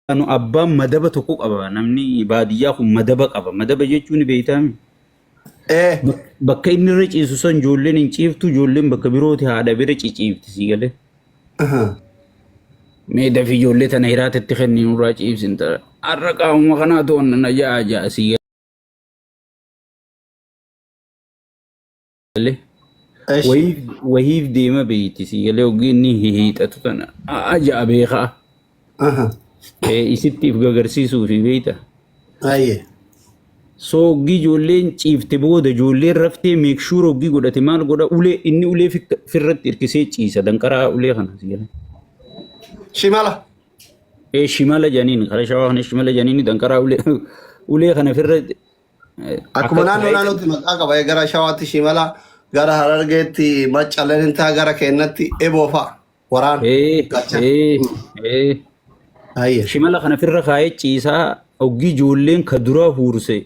Anu abbaan madaba tokko qaba namni baadiyyaa kun madaba qaba madaba jechuun ni beektaami Ee. Bak- bakka inni irra ciisu san ijoolleen hin ciiftu ijoolleen bakka birooti haadha bira ciciifti sii galee Aha. mee dafi ijoollee tana hiraata itti kenni nurraa ciibsin ta'a har'a qaamuma kanaa to'anna na ja'a ja'a sii galee Eshi. wahiif wahiif deema beeyti sii galee ogii inni hihiixatu tana aja'a beekaa Aha. Eh, isitti if gagarsiisuu fi beeyta Aye. soo ogii ijoolleen ciifte booda ijoolleen raftee meekshuur ogii godhate maal godha ulee inni ulee fikka- firratti hirkisee ciisa danqaraa ulee kana sii galee. Shimala. Eh, shimala janiin kara shawaa kana shimala janiin danqaraa ulee ulee kana firra Akkuma Akka naannoo ta'e naannootti maqaa qaba. Gara Shawaatti Shimala, gara Harargeetti Macca Lenintaa, gara Keennatti Eboo fa'a. Waraan ee gachan. ee ee Ayye. shimala kana firra kaa'ee ciisaa oggii ijoolleen ka duraa huurse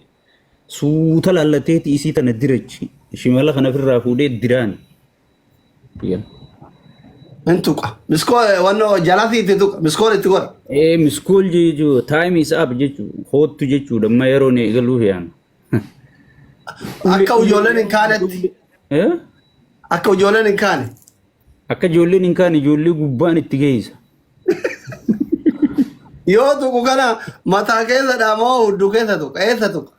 suuta laallateeti isii tana dirachi shimala kana firraa fuudhee diraan Yen. Hin tuqa. Miskoo wanno jalaa fi itti tuqa. Miskoon itti godha. Ee miskool jechuu time is up jechuu hoottu jechuudha amma yeroo ni eegaluuf yaan. Akka ijoolleen hin kaanetti. Eh? Akka ijoolleen hin kaane. Akka ijoolleen hin kaane ijoollee gubbaan itti geessa. Yoo tuqu kana mataa keessa dhaamoo hudduu keessa tuqa. Eessa tuqa?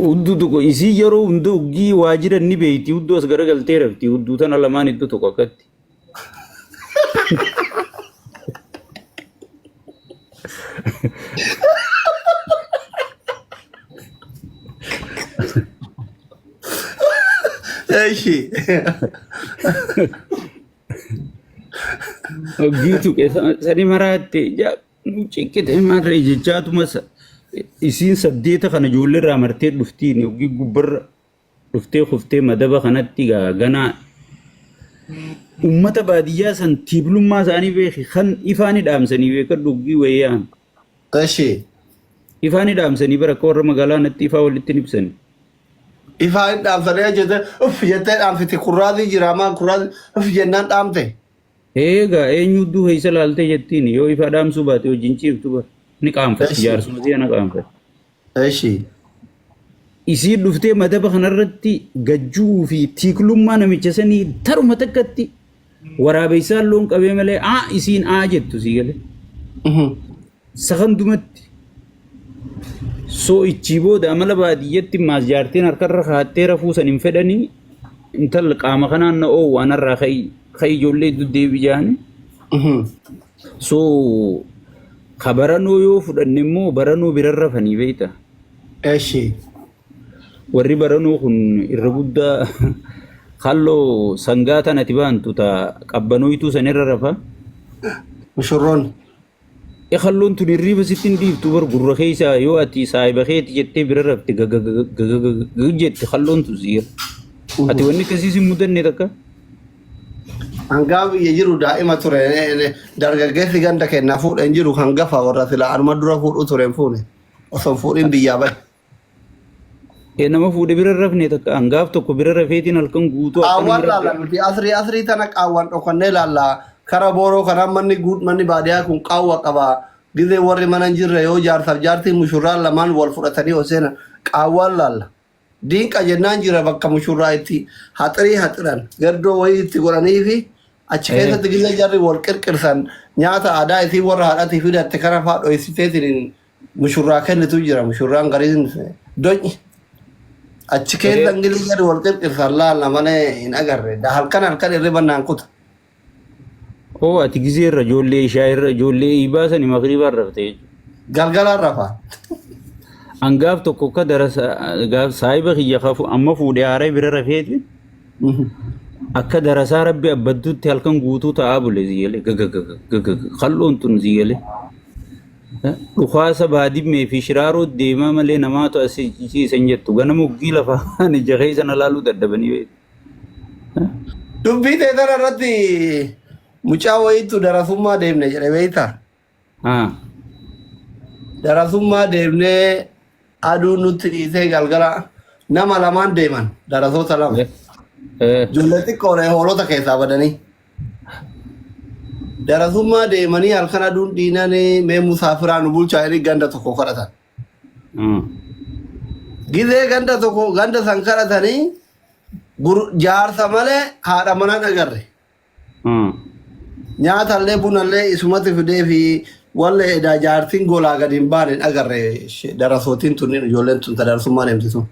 Hudduu tokko isii yeroo hunda uggii waa jiran ni beekti. Hudduu as garagaltee rafti. Hudduu tana lamaan iddoo tokko akkatti. Eshi. Uggii tuqe sani maraatte. Ciqqite marree jechaatuma sa- isiin saddeeta kana ijoollee irraa martee dhuftiin yookiin gubbarra dhuftee kuftee madaba kanatti gaa ganaa ummata baadiyyaa san tiiblummaa isaanii beeki kan ifaani dhaamsanii beeka dhuggii wayyaan Tashi. ifaani dhaamsanii bara akka warra magaalaa natti ifaa walitti hin ibsani. Ifaa hin dhaamsanee jette uff jettee dhaamsiti kurraazii jiraamaan kurraazii uff jennaan dhaamte. Eegaa eenyu udduu keessa laaltee jettiin yoo ifa dhaamsuu baate wajjin ciiftu bar. Ni qaanfatti Eshi. jaarsuma si'a na qaanfatti. Eshi. Isiin dhuftee madaba kanarratti gajjuu fi tiiklummaa namicha sanii taruma takkatti waraabeessaan loon qabee malee aa isiin aa jettu sii galee. Sakandumatti soo'ichii booda amala baadiyyatti maas jaartiin harkarra kaattee rafuu san hin fedhanii intala qaama kanaan na oowu anarraa ka'i ka'i ijoollee iddoo deebi jaani. So ka baranoo yoo fudhanne immoo baranoo biran rafanii beekta. Eshi. Warri baranoo kun irra guddaa halloo sangaa tanati baantu ta qabbanooytuu sanirra rafa. Mushurroon. Ekalloon tun hirriiba sitti hin dhiiftu bar gurra keessa yoo ati saahiba keeti jettee bira rafte gagagagagagag jette kalloon tun siira. Ati wanni akkasii sin mudanne takka? Hangaa biyya jiru daa'ima ture dargaggeessi ganda kennaa fuudhe hin jiru kan gafa warra silaa anuma dura fuudhu ture hin fuune osoo hin fuudhin biyyaa bahe. Ee nama fuudhe bira hin rafne takka an gaaf tokko bira rafeetiin halkan guutuu akka nama qaawwaan laalla rafte. nuti asrii asrii tana qaawwaan dhokannee laalla kara booroo kana manni guut manni baadiyaa kun qaawwa qaba gizee warri mana hin jirre yoo jaarsaaf jaartii mushurraan lamaan wal fudhatanii yoo seenan qaawwaan laalla diinqa jennaan jira bakka mushurraa itti haxirii haxiran gaddoo wayii itti godhanii fi achi Ee keessatti gizee jarri wal qirqirsan nyaata aadaa isii warra haadhatii fidatte kana faa dhoysiteetiin mushurraa kennitu jira mushurraan gariin do'i achi keessa Ee. ingilii gadi wal qirqirsan laalla malee hin agarre Da- halkan halkan irriba naan kuta Oo ati gizee irra ijoollee ishaa irra ijoollee iibaa sani magriibaa irra fite jechuudha. galgalaan rafa An gaaf tokko akka darasa gaaf saahiba kiyya kafu amma fuudhee haaree bira rafeeti akka darasaa rabbi abbadduutti halkan guutuu ta'aa bule siyyale gagagaga gagagaga kal'oon tun siyyale Dhukaasa baadimmee fi shiraaroo deemaa malee namaatu as ciise hin jettu. Ganama uggii lafa kaan ija keessa na laaluu dadhabanii beeku. Dubbii tee tana irratti mucaa wayiitu darasummaa deemne jedhe beektaa? Haa. Darasummaa deemnee aduun nutti dhiisee galgala nama lamaan deeman darasoota lama. Eh, eh, Ijoollee xiqqoodha hoolota keessaa badanii. Darasummaa deemanii halkan aduun dhiinanii mee musaafiraa nu bulchaa jedhanii ganda tokko kadhatan. Mm. Gizee ganda tokko ganda san kadhatanii gur- jaarsa malee haadha manaa hin agarre. Mm. Nyaatallee bunallee isumatti fidee fi wallee edaa jaartiin golaa gadi hin baane hin agarre she- darasootiin tun ijoolleen tun tadarasummaa deemti sun.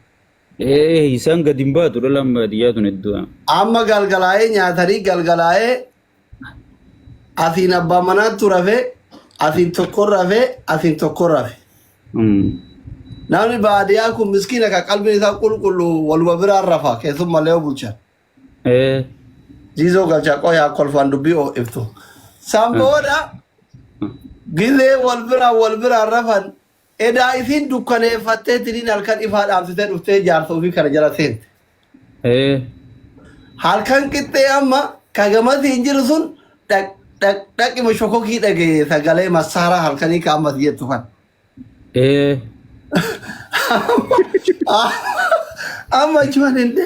Ee isaan gadi hin baatu dhalaan baadiyyaa tun hedduu. Amma galgalaa'ee nyaatanii galgalaa'ee asiin abbaa manaattu rafe asiin tokko rafe asiin tokko rafe. Namni baadiyyaa kun miskiina kan qalbiin isaa qulqulluu waluma biraan rafa keessummallee yoo bulchan. Ee Jiizoo galchaa qoyaa kolfaan dubbii oo ibsu. San booda gilee wal biraan wal biraan rafan Edaa isiin dukkaneeffattee tiniin halkan ifaa dhaamsitee dhuftee jaarsa ofii kana jala seente. Ee. Halkan qixxee amma ka gamasiin jiru sun dhaq dhaq dhaqima shokokii dhaga'e sagalee massaaraa halkanii ka ammas jettu kan. Ee. Amma achumaan hin de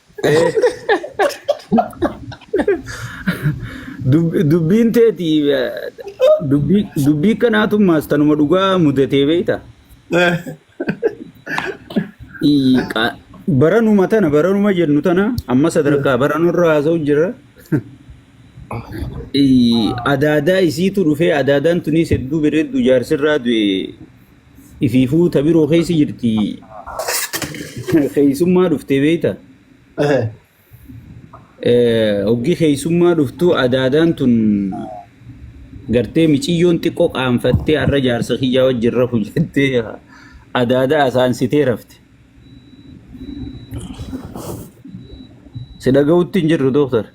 Dubbiin teeti dubbii kanaatummaas tanuma dhugaa mudatee beekta. Baranuma tana baranuma jennu tana amma sadarkaa baranurra haasa'u jira. Adaadaa isiitu dhufee adaadaan tunis hedduu bareeddu jaarsirraa du'e Ifiifuu ta biroo keessa jirti. Keessummaa dhuftee beekta. Ehe. Hoggi keessummaa dhuftu adaadaan tun gartee miciyyoon xiqqoo qaanfattee har'a jaarsa kiyyaa wajjin rafu jettee adaadaa asaansitee rafte. Si dhaga'utti hin jirru dooktar.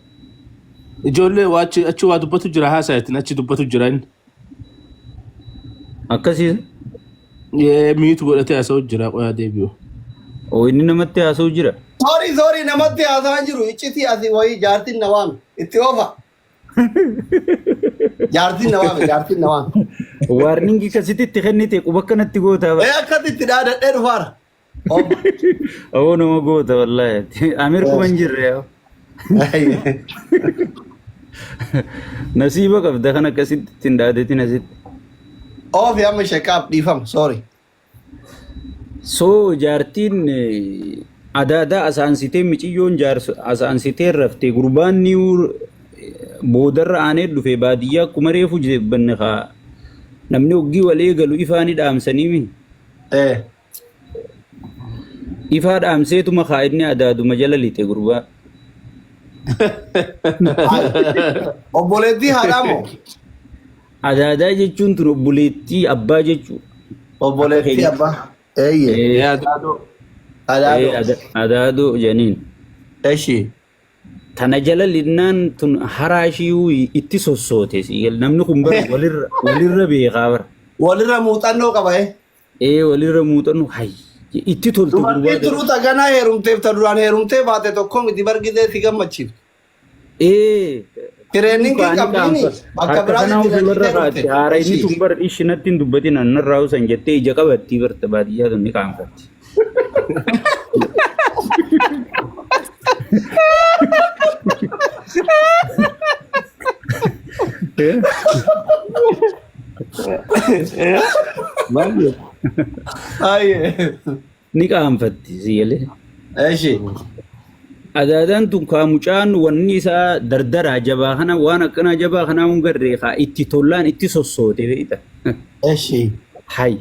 Ijoollee waa achi achi waa dubbatu jira haasayatin achi dubbatu jira inni. Akkasii Ee, miitu godhatee haasa'u jira qoyaa deebi'u. oo inni namatti haasa'u jira. Sorry, sorry, namatti haasaan jiru. Iccitii asii wayii jaartiin na waame. Itti oofa. Jaartiin na waame, jaartiin na waame. Waarningi kasitti itti kennite quba akkanatti gootaa Ee bara. akkasitti dhaadadhee dhufaara. Ob. Oo nama goota wallaahi. Amir kuma hin jirre yaa. Nasiiba qabda kan akkasitti ittiin dhaadetin asitti. Ofi amma shakaaf dhiifama sorry. Soo jaartiin eh, adaadaa asaansitee miciyyoon jaarsa asaansitee raftee gurbaan niiwu boodarra aanee dhufe baadiyyaa akkuma reefu jibbanne kaa namni hoggii wal eegalu ifaanii dhaamsanii mi. Eh. Ifaa dhaamseetuma kaa inni adaaduma jala lixe gurbaa. Obboleettii haadhaa moo? Adaadaa jechuun tun obboleettii abbaa jechuu. Obboleettii abbaa. Eeyyee. Ee, Yaa daadoo. ee, Adaadoo. ada- Adaadoo janiin. Eshi. Tana jala linnaan tun haraashiyuu itti sossoote. sigal. Namni kun bara walirra walirra beekaa bara. Walirra muuxannoo qaba eh. Ee walirra muuxannu hayye itti tolta gurbaa Dubartiin jala. turuu taganaa heerumteef ta duraan heerumtee baate tokko miti bargidee si gammachiifte. Ee Tireeningii kaani qabdiini qaanfas bakka harka biraatti kanaa ofii barra tireeningii kaatti dhufte. haara inni Ishii. tun bar ishi natti hin dubbatin annarraa usan jettee ija qabattii barta baadiyyaa tun ni qaanfatti. Eh? Baay'ee. Ayyee. Ni qaanfatti si galee. Eshi. Adaadaan tun kaa mucaan wanni isaa dardaraa jabaa kana waan akkanaa jabaa kanaa hin garree kaa itti tollaan itti sossootee beekta. Eshi. Hay.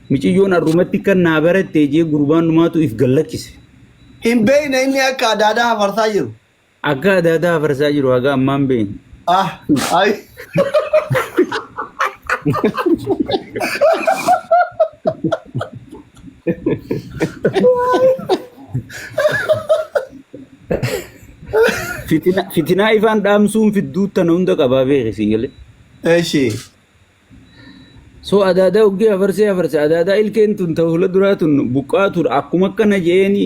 Miciyyoon arrumatti kan naa barattee jee gurbaan numaatu if gallakkise. Hin beekne inni akka adaadaa hafarsaa jiru. Akka adda addaa afarsaa jiru haga ammaan beeknu. Ah, ay. Fitina- Fitinaa ifaan dhaamsuun fidduu tana hunda qabaa beekisiin galee. Eshi. So adaadaa hoggee hafarsee hafarse adaadaa ilkeen tun ta hula duraa tun buqqaatuudha akkuma akkana jeeni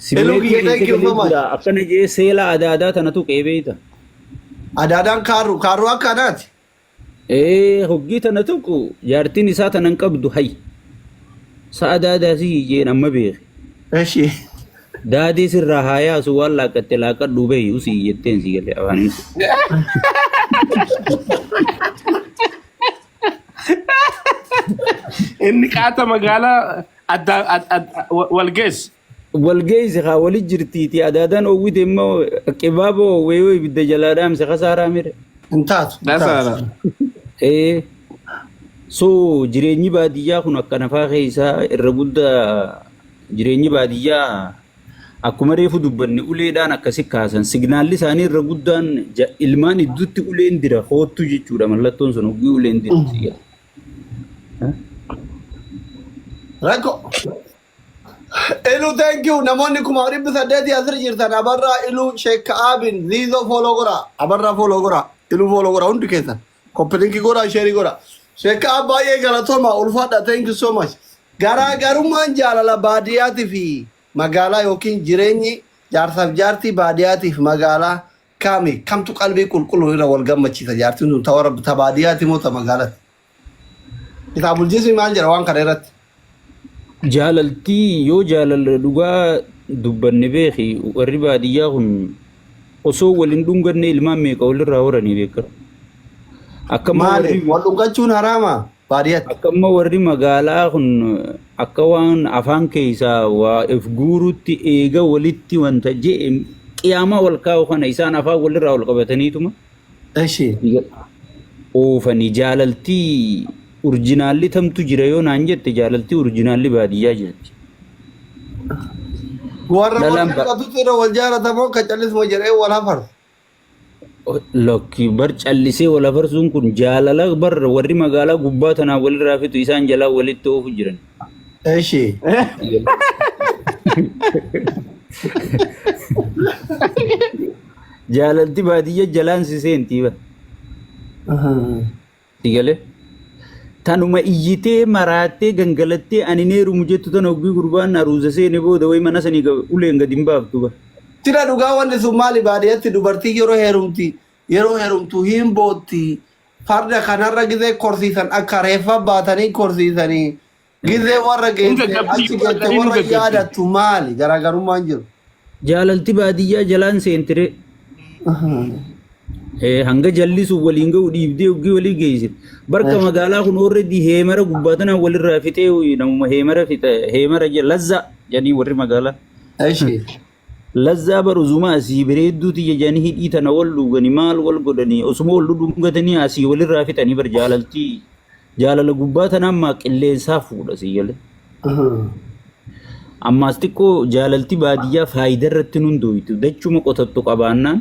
Hello, simmeetii Kiyya, thank keessa you so galee much. jira akkana jee seela adaadaa tana tuqee beeyta. Adaadaan kaaruu kaaruu akka adaati. Ee hoggii tana tuqu jaartiin isaa tana hin qabdu hay. Sa adaadaa si jeen amma beeke. Eshi. Daadii sirraa haa yaasu waan laaqqatte laaqqadhuu beeyi usii jetteen sii galee afaaniin kun. Inni qaata magaalaa adda ad- ad- wa- wal geesse. Wal geesse haa wali jirtiiti adaadaan oowwite immoo qibaaba oowwee yoo ibidda jalaa dhaamse kasaaraa mire. Hin taatu. hin taatu. Dasaara. Ee so jireenyi baadiyyaa kun akkana faa keessaa irra guddaa Jireenyi baadiyyaa akkuma reefu dubbanne uleedhaan akkasi kaasan. Signaalli isaanii irra guddaan ja- ilmaan idduutti uleen dira koottu jechuudha mallattoon sun hoggii uleen dira si jedha. Rakko. Ilu thank you namoonni kuma dhibbi saddeetii asirra jirtan abarraa ilu sheekka aabin ziizoo fooloo goraa abarraa fooloo goraa ilu fooloo goraa hundi keessan. Copy link godhaa share godhaa. Sheekaa baay'ee galatoomaa ulfaadha thank you so much. Garaagarummaan jaalala baadiyaatii fi magaalaa yookiin jireenyi jaarsaaf jaartii baadiyaatii fi magaalaa kaami kamtu qalbii qulqulluun irra wal gammachiisa jaartiin sun ta warra ta baadiyaati moo ta magaalati. Kitaabul jismi maal jedha waan kana irratti? Jaalaltii yoo jaalala dhugaa dubbanne beeki warri baadiyyaa kun osoo wal hin dhunganne ilmaan meeqa walirraa horanii beeka. Akkamma Maali? warri Wal dhungachuun haraama baadiyyaatti. akkamma warri magaalaa kun akka waan afaan keessaa waa if guurutti eega walitti wanta je'e qiyaamaa wal kaa'u kana isaan afaan walirraa wal qabataniituma Eshi. Oofani jaalaltii urjinaalli tamtu jira yoo naan jette jaalaltii urjinaalli baadiyyaa jirti. Warra wal Lalaan ba- jaalatu irra wal jaalata moo ka callisuma jedhee wal hafarsa. Lakki bar callisee wal hafarsuun kun jaalala bar warri magaalaa gubbaa tanaa walirraa fitu isaan jalaa walitti oofu jiran. እሺ jaalalti baadiyya jalaan si seentii ba si galee tanuma iyyitee maraattee gangalattee ani neerumu jettu tan hoggii gurbaan aruuza seene booda way mana sanii ga- uleen gadi hin baaftu ba Tira dhugaa wanni sun maali baadiyyaatti dubartiin yeroo heerumti yeroo heerumtu hin bootti Farda kanarra gizee korsiisan akka reeffa baatanii korsiisanii gizee warra Hin geesse gaggabdi, achi geesse waaqanii hin warra gaggabdi. yaadattu maali garaagarummaan jiru. Jaalalti baadiyyaa jalaan seentire. Eh, hanga jallisuuf waliin ga'u dhiibdee uggii walii geessit. Barka Eh. magaalaa kun already heemara gubbaa tanaan walirraa fixee uyi, namuma heemara fixa heemara je- lazza jedhanii warri magaalaa. Eshi. Lazzaa bar uzumaa asii bereedduu tiyya jani hidhii tana wal dhuugani maal wal godhani osuma wal dhudhungatanii asii wal irraa fixanii bar jaalaltii jaalala gubbaa tana ammaa qilleensaa fuudha sii galee ammaas xiqqoo jaalalti baadiyyaa faayidaa irratti nun dooytu dachuma qotattu qabaannaan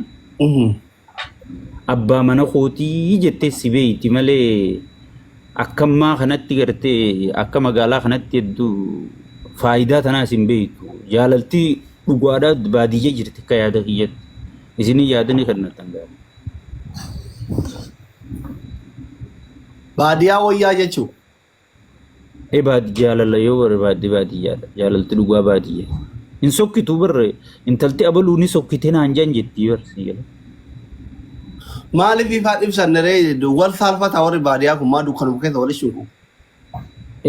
Abbaa mana kootii jettee si beeyti malee akkammaa kanatti gartee akka magaalaa kanatti hedduu faayidaa tanaa isin beeytu. Jaalaltii dhugaadhaa baadiyya jirti akka yaada kiyyatti. Isinii yaada ni kennatan gaari. Baadiyaa wayyaa jechuu. Ebaad jaalala yoo barbaadde baadiyyaadha. Jaalalti dhugaa baadiyya. Hin sokkitu barre intalti abaluu ni sokkite naan jan jetti barre si gala. Maaliif ifaa dhibsanne ree wal saalfata warri baadiyaa kun maa dukkanuma keessa wal ishinqu.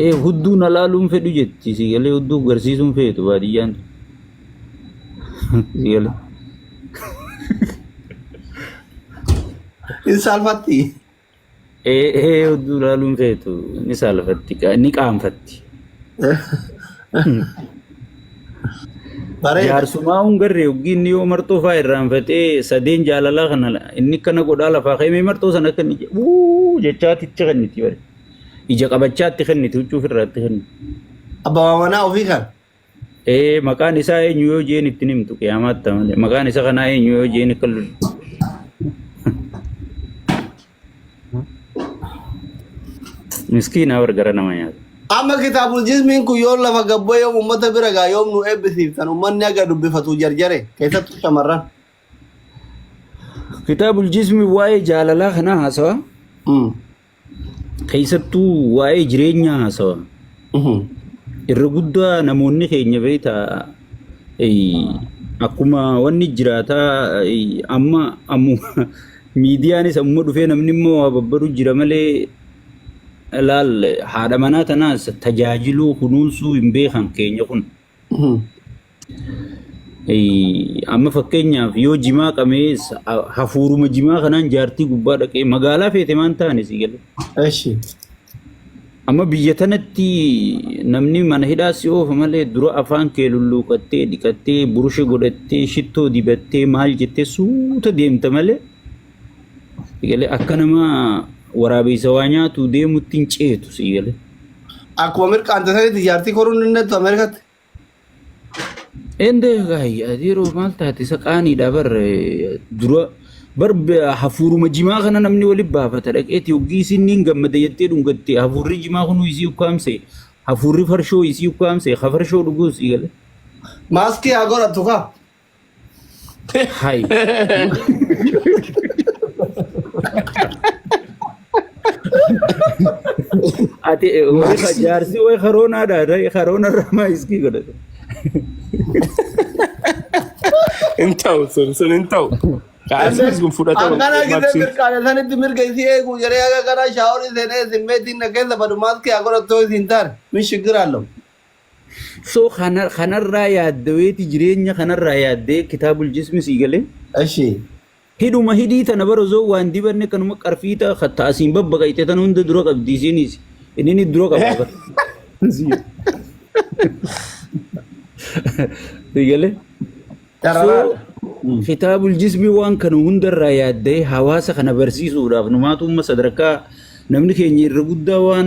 Ee hudduu na laaluun fedhu jetti si galee hudduu garsiisuun feetu baadiyyaan tun. si galee. Hin saalfatti. Ee ee odduu ilaaluun feetu ni saalfatti qa- ni qaanfatti. Bareeda. Jaarsumaa hungarree yoggiin inni yoo marxoo fa'aa irraanfatee sadeen jaalalaa kana la- inni kana godhaa lafaa ka'ee mee marxoo sana akka inni je- wuu jechaatti itti kenniti bare. Ija qabachaatti kenniti huccuu ofirraatti kenniti. Abbaa manaa ofii kan. Ee maqaan isaa eenyu yoo jeen ittiin himtu qiyaamaatti amale. Maqaan isa kanaa eenyu yoo jeen akka lul- miskiina warra gara nama nyaata. Amma kitaabul jismiin kun yoo lafa gabboo yoom uummata bira gaa yoom nu eebbisiiftan uummanni aga dubbifatu jarjare keessattuu shamarran. Kitaabul jismi waa'ee jaalalaa kanaa haasawa. Mm. Keessattuu waa'ee jireenyaa haasawa. Irra guddaa namoonni keenya beekta akkuma wanni jiraataa amma ammuma miidiyaanis ammuma dhufee namni immoo waa babbaru jira malee laal haadha manaa tanaas tajaajiluu kunuunsuu hin beekan keenya kun. Amma fakkeenyaaf yoo jimaa qabee hafuuruma jimaa kanaan jaartii gubbaa dhaqee magaalaa feete maan taane si galee. Eshi. Amma biyya tanatti namni mana hidhaa si oofa malee dura afaan kee lulluuqattee dhiqattee burushe godhattee shittoo dibattee maal jettee suuta deemta malee Sigalee akka nama waraabeysa waa nyaatu deemutti hin ceetu sigalee. Akkuma mirqaante sanitti jaartii koruun hin dandeettu Ameerikaatti. Ende gaayya yeroo maal taate isa qaaniidha bar eh, dura bar be- hafuuruma jimaa kana namni wali baafata dhaqeeti hoggii isin niin gammada jettee dhungatte hafuurri jimaa kunuu isii ukkaamse hafuurri farshoo isii ukkaamse ha farshoo dhuguu sii gale. Maaskii haa godhattu kaa. Hay. Ati eh, wayii Max. ka- jaarsi wayii karoonaadha. Rayii karoona irraa maa iskii godhate. Hin ta'u sun sun hin ta'u. Kaasiis kun fudhatama. Akkana gisee Maksiin. mirqaana sanitti mirga isii eegu jedhee akka karaa shaaworii seenee simmeetiin na keessa badu maaskii haa godhattuu isin taane min shiggiraallo. So kana kanarraa yaaddaweeti jireenya kanarraa yaaddee kitaabul jismi sii galee. Ashi. Hidhuma hidhii tana bara zoo waan dibanne kanuma qarfiita katta asiin babbaqayxe tana hunda dura qabdi isiinis. Innini dura qabaa bara. Sii galee. Carraa. So kitaabul jismi waan kana hundarraa yaaddee hawaasa kana barsiisuudhaaf numaatu umma sadarkaa namni keenya irra guddaa waan